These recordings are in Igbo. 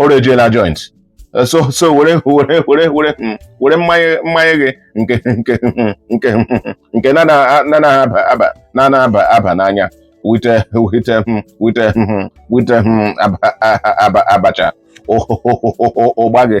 ọrụ ejiela joint so so were were were were hmm, were mmanya mmanya gị nke nke hmm, nke hmm, nke na na aba aba na na aba aba n'anya with with with with abacha ụgba gị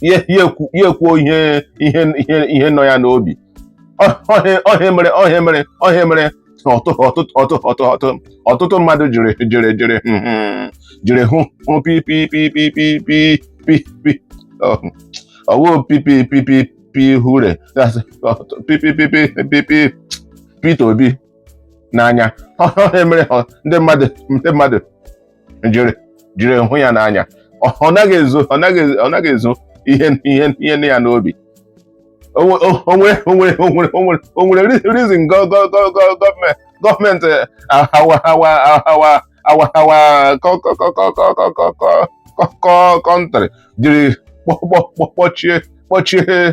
ya ekwuo ihe ihe ihe ihe nọ ya n'obi ọ ihe a mere ọ ihe a mere ọ ihe a mere ọtụtụ mmadụ jiri jiri jiri hmm, hmm, jiri hụ Pi ọ wụ Pi Pi hụrụ Peter Obi n'anya ọ ihe a mere ndị mmadụ ndị mmadụ jiri jiri hụ ya n'anya ọ naghị ezo ọ naghị ọ naghị ezo ihe ihe ihe nọ ya n'obi o nwere reason gọọmenti our our country jiri kpọchie kpọchie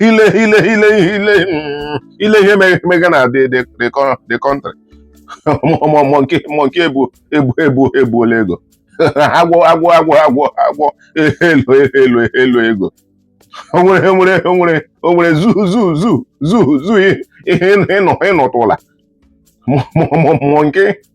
ile ile ile ile ile ihe mega na the the the co- the country mọ monkey monkey ebu ebu ebu ebuola ego agwọ agwọ agwọ agwọ agwọ elo elo eloo ego o nwere o nwere o nwere o nwere zoo zoo zoo zoo zoo ị nụ ị nụtụla mọ mọ mọ monkey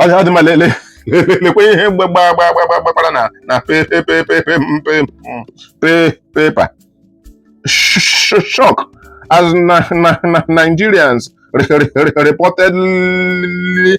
ọ dị mma lele lekwe ihe mgbe gbaa gbaa gbaa gbakwara na na paper shock as na na Nigerians reportedly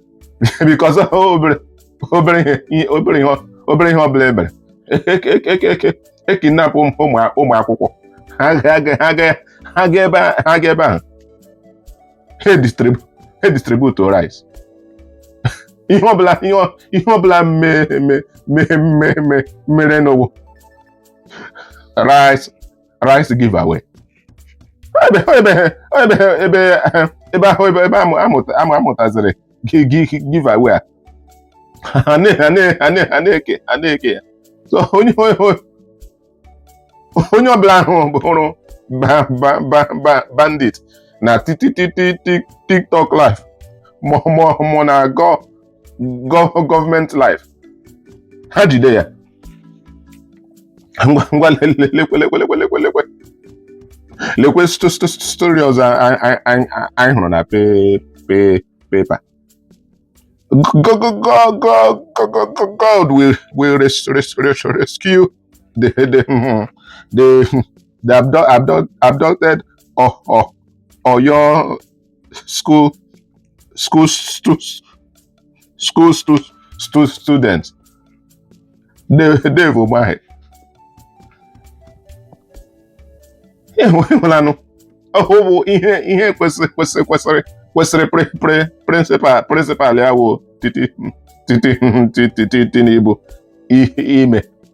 because obere obere ihe obere ihe obere ihe ọbụla mere e kidnapụ ụmụ akwụkwọ ha ga ebe ahụ ha distribute rice ihe ọbụla ihe ọbụla mere n'ụwa rice rice giveaway ebe ahụ ebe a mụtaziri giveaway a na-eke ya so onye ọbụla ahụ hụrụ bandit na TikTok live mụọ na gọọ gọọmenti live ha jide ya ngwa ngwa lekwe lekwe story ọzọ anyị hụrụ na paper God will, will rescue the, the, the, the abducted O, O, Oyo school school stu school stu stu student Dave Umahi ịhụlanụ ọhụ bụ ihe ihe kwesịrị kwesịrị kwesịrị kwesịrị principal principal ya wụ titi titi titi ti Tinubu ime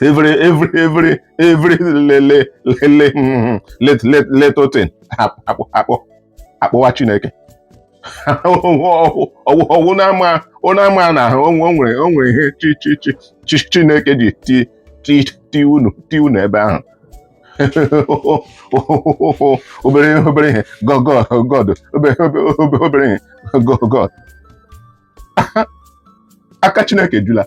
every every every every lele lele mm, lit lit little thing akpọ akpọ akpọwa Chineke ọ wụ na-ama ọ na-ama na ahụ o nwere o nwere ihe chi chi chi chi Chineke ji ti ti ti unu ti unu ebe ahụ obere obere ihe God God God obere obere obere ihe God God aka Chineke jula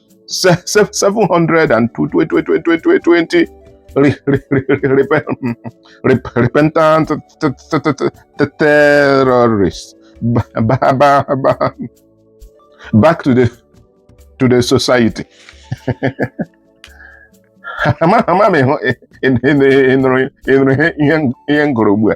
720 repentant terrorists back to the to the society ama m ị nụrụ ihe m gụrụ ugbu a